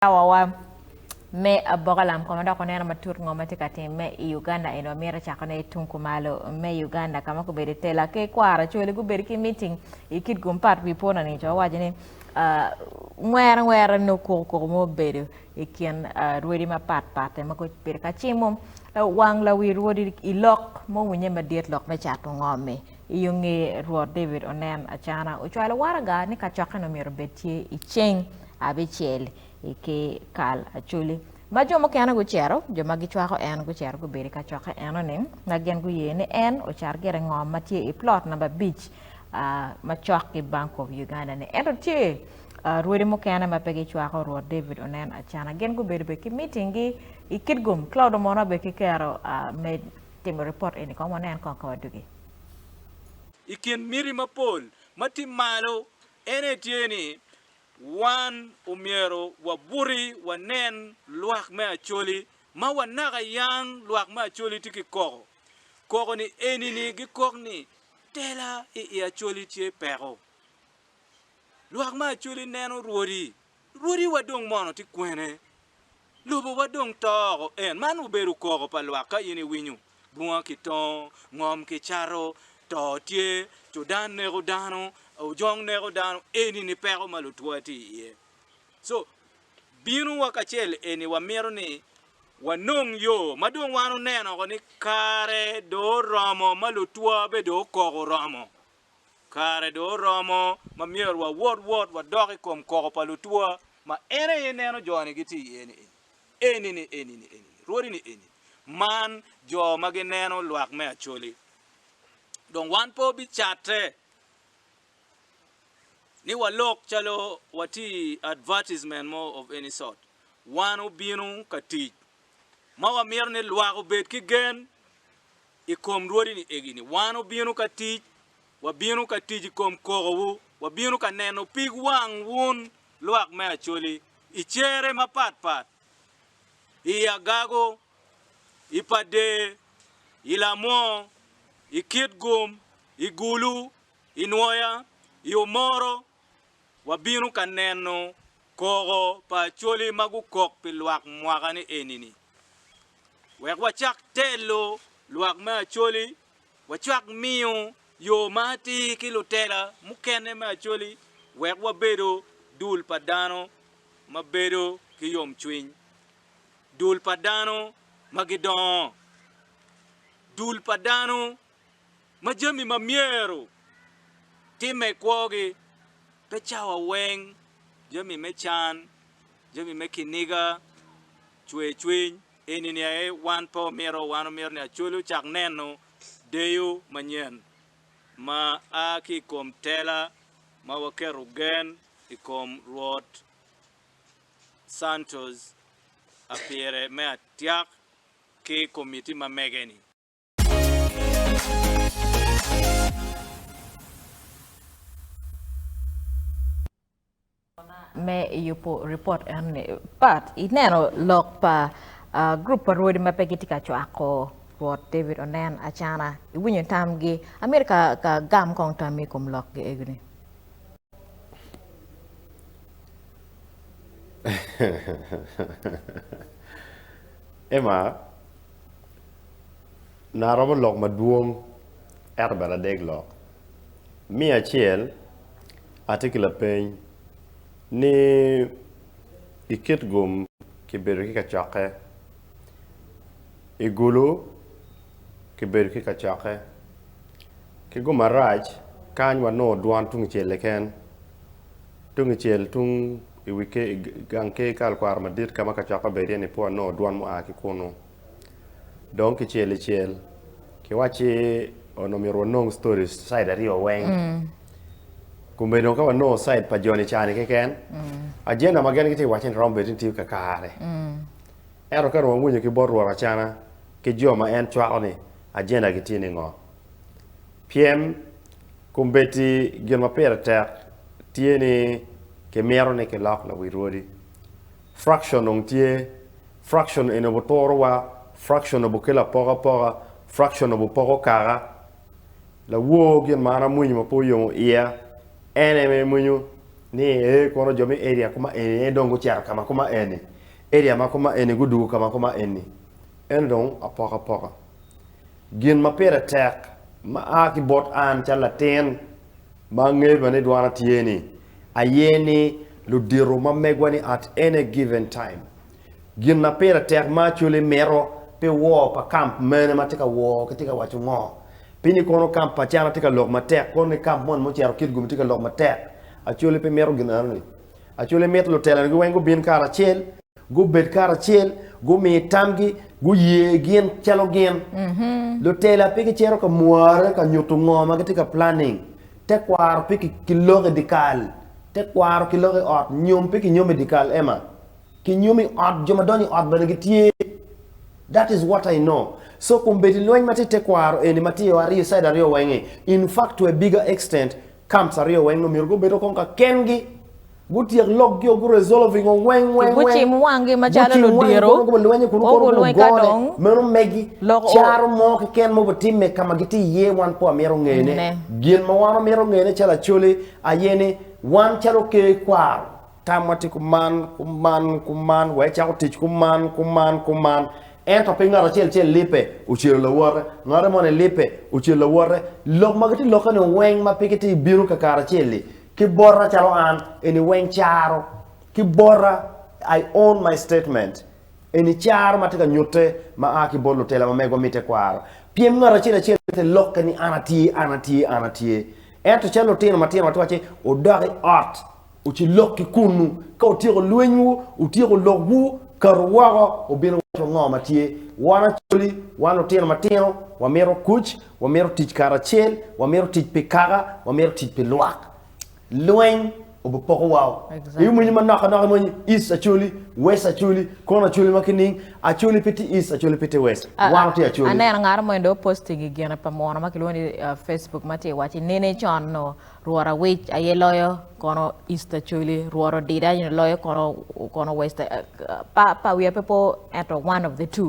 Cawawa me Aboka Lam Koma dok waneno matut ngo ma tye ka timme i Uganda eni, wamito cakone i tung kumalo me Uganda ka ma gubedo tela ki kwara cwali gubedo ki meeting i kit gum pat wi pwona ni co waco ni ngwere ngwere nongo koko koko mo bedo i kin rwodi ma pat pat ma gubedo ka cimo wang lawi rwodi i lok ma owinye madit lok me cato ngo-mi. I yo nge Rwot David onen acana, ocwalo waraga ni kacokkene omyero obed tye i ceng abicel i ki kal acoli. Ma jo mukene gucito, jo ma gicwako en gucito gubedo i kacokke eno-ni, ma gin guye ni en ocar gire i ngom ma tye i plot namba abic ma cok ki Bank of Uganda-ni. Ento tye rwodi mukene ma pe gicwako Rwot David onen acana, gin gubedo bene ki mitinggi i Kitgum. Claude Omona bene ki Kero Timo ripot eni kong wanen kong ka wadugi. I kin miti mapol ma tye malo ene tye ni wan omyero wabuti wanen lwak me Acholi ma wanaka yang lwak me Acholi tye ki koko. Koko ni eni ni gikok ni tela i i Acholi tye peko. Lwak me Acholi neno rwodi Rwodiwa dong mono tye kwene? Lobowa dong to oko en. Man obedo koko pa lwak ka in iwinyo, Bunga kitongo, ngom kicato, to tye, cudan neko dano, ojong neko dano, eni ni peko ma lutwa tye iye. So, bino wa kacel eni wamito ni wanong yo ma dong wan oneno oko ni kare dong oromo ma lutwa be dong okoko oromo. Kare dong oromo ma myero wawot wot wadok i kom koko pa lutwa ma en aye ineno jo-ni gitye iye ni eni, eni ni eni ni eni ni, rwodi ni eni, man jo ma gineno lwak me Acholi. Dong wan pe obicatte ni walok calo watye i advertisement mo of any sort. Wan obino ka tic ma wamito ni lwak obed ki gen i kom rwodini egi ni, Wan obino ka tic, wabino ka tic i kom kokowu, wabino ka neno pig wang wun lwak me Acholi, i cere mapat pat, i agago, i pader, i lamwor, i kitgum, i gulu, i nwoya, i omoro, wabino ka neno koko pa Acholi ma gukok pi lwak mwaka ni eni-ni. Wek wacak telo lwak me Acholi, wacak miyo yo ma atir ki lutela mukene me Acholi wek wabedo dul pa dano ma bedo ki yomcwiny, dul pa dano ma gidongo, dul pa dano ma jami ma myero timme i kwogi pe cawa weng, jami me can, jami me kiniga, cwer cwiny. Eni ni aye wan pe omito, wan omito ni Acholi ocak neno deyo manyen ma a ki i kom tela ma waketo gen i kom Rwot Santos a pire me atyak ki komiti ma mege-ni. me yubo report enni pat ineno lok pa uh, group pa rwodi ma pe gitye ka cwako Rwot David onen acana iwinyo tamgi amito ka, ka gam kong tammi i kom lok gi egini Emma na romo lok madwong ento bene adek lok. Me acel, atye ki lapeny ni i kit gum kibedo ki kacokke, i gulu kibedo ki kacokke, ki gum arac kany wanongo dwan tungcel keken, tungcel tung i gang ker Kal Kwaro Madit ka ma kacokke bedo iye-ni pe wanongo dwan mua ki kunu. Dong kicel i cel kiwacci onongo myero wanong stories side aryo weng. Kome dong ka wanongo side pa joni cani keken, agenda ma gen gitye wace ni romo bedo ni tiyo kakare. Ento ka dong wawinyo ki bot Rwot Acana ki jo ma en cwako ni agenda gi tye ni ngo. Pyem, kombeddi gin ma pire tek tye ni kimito ni kilok lawil odi. Fraction dong tye. Fraction eni obuturo wa, fraction obukelo apoka apoka, fraction obupoko kaka. Lawor gin ma an amwinyo ma pe oyomo iya, en eme imwinyo ni ee kono jo me area kuma eni aye dong gucito ka ma kuma eni, area ma kuma eni gudwogo ka ma kuma eni. Eno dong apoka apoka. Gin ma pire tek ma a ki bot an calo latin ma angeyo bene ni dwana tye ni, aye ni ludito ma megwa ni at any given time. Gin ma pire tek ma Acholi mito pi woo pa camp mene ma tye ka woo ki tye ka waco ngo? Pi ni kono camp pa Acana tye ka lok matek kono ni camp moni ma ocito Kitgum tye ka lok matek? Acholi pe mito gin enoni. Acholi mito lutelone gi weng gubin karacel. Gubed karacel, gumi tamgi, guye gin calo gin. Lutela pe gicito ka mware ka nyutu ngo ma gitye ka planning. Tekwaro pe ki loko i dikal. Tekwaro ki loko i ot. Nyom pe ki nyomo i dikal Emma. Ki nyomo i ot, jo ma donyo i ot bene gitye. That is what I know. So kombeddi lweny ma tye i tekwaro eni ma tye o aryo side aryo weng-ngi, in fact to a bigger extent, camps aryo weng-ngi omyero gubed o kong ka kengi. Gutyek lokgi o guresolve i ngo weng weng weng. Gucim wanggi macalo Gucim wanggi ludiro. kono gubalwanye kun O kono gulweny ka gugone. dong Meno megi lok o. caro mo keken ma obitimme ka ma gitye iye wan pe wamito ngene. Ne. Gin ma wan wamito ngene calo Acholi aye ni wan calo oker kwaro, tamwa tye kuman, kuman, kuman, wa ecako tic kuman, kuman, kuman. Ento pe ngat acel acel lipe ocelo lawote, ngate moni lipe ocelo lawote. Lok ma gitye lokke-ni weng ma pe gitye bino kakaracelli Ki bota calo an, eni weng caro. Ki bota, I own my statement, eni caro ma tye ka nyutte ma a ki bot lutela ma megwa mitte kwaro. Pien ngat acel acel te lokke ni an atye, an atye, an atye. Ento calo lutino matino watye wacci, wudok i ot, wuci lok ki kunnu. Ka wutyeko lwenywu, wutyeko lokwu, katu woko, wubino wacci wa ngo ma tye. Wan Acholi, wan lutino matino, wamito kuc, Wamito tic karacel, wamito tic pi kaka, wamito tic pi lwak. Lweny obipoko wa o. Exactly. Eyo mwenyi manok anok mwenyi east acholi, west acholi, kono acholi ma kining, acholi pe ti east, acholi pe ti west. Wan wati acholi. Aneno ngaro mo endo posting i gine pa munu ma kilwongo ni uh, Facebook ma ti waci nene con no rwot awic aye loyo kono east acholi, rwot odida aye loyo kono kono west uh, pa pa wiya pe po ento one of the two.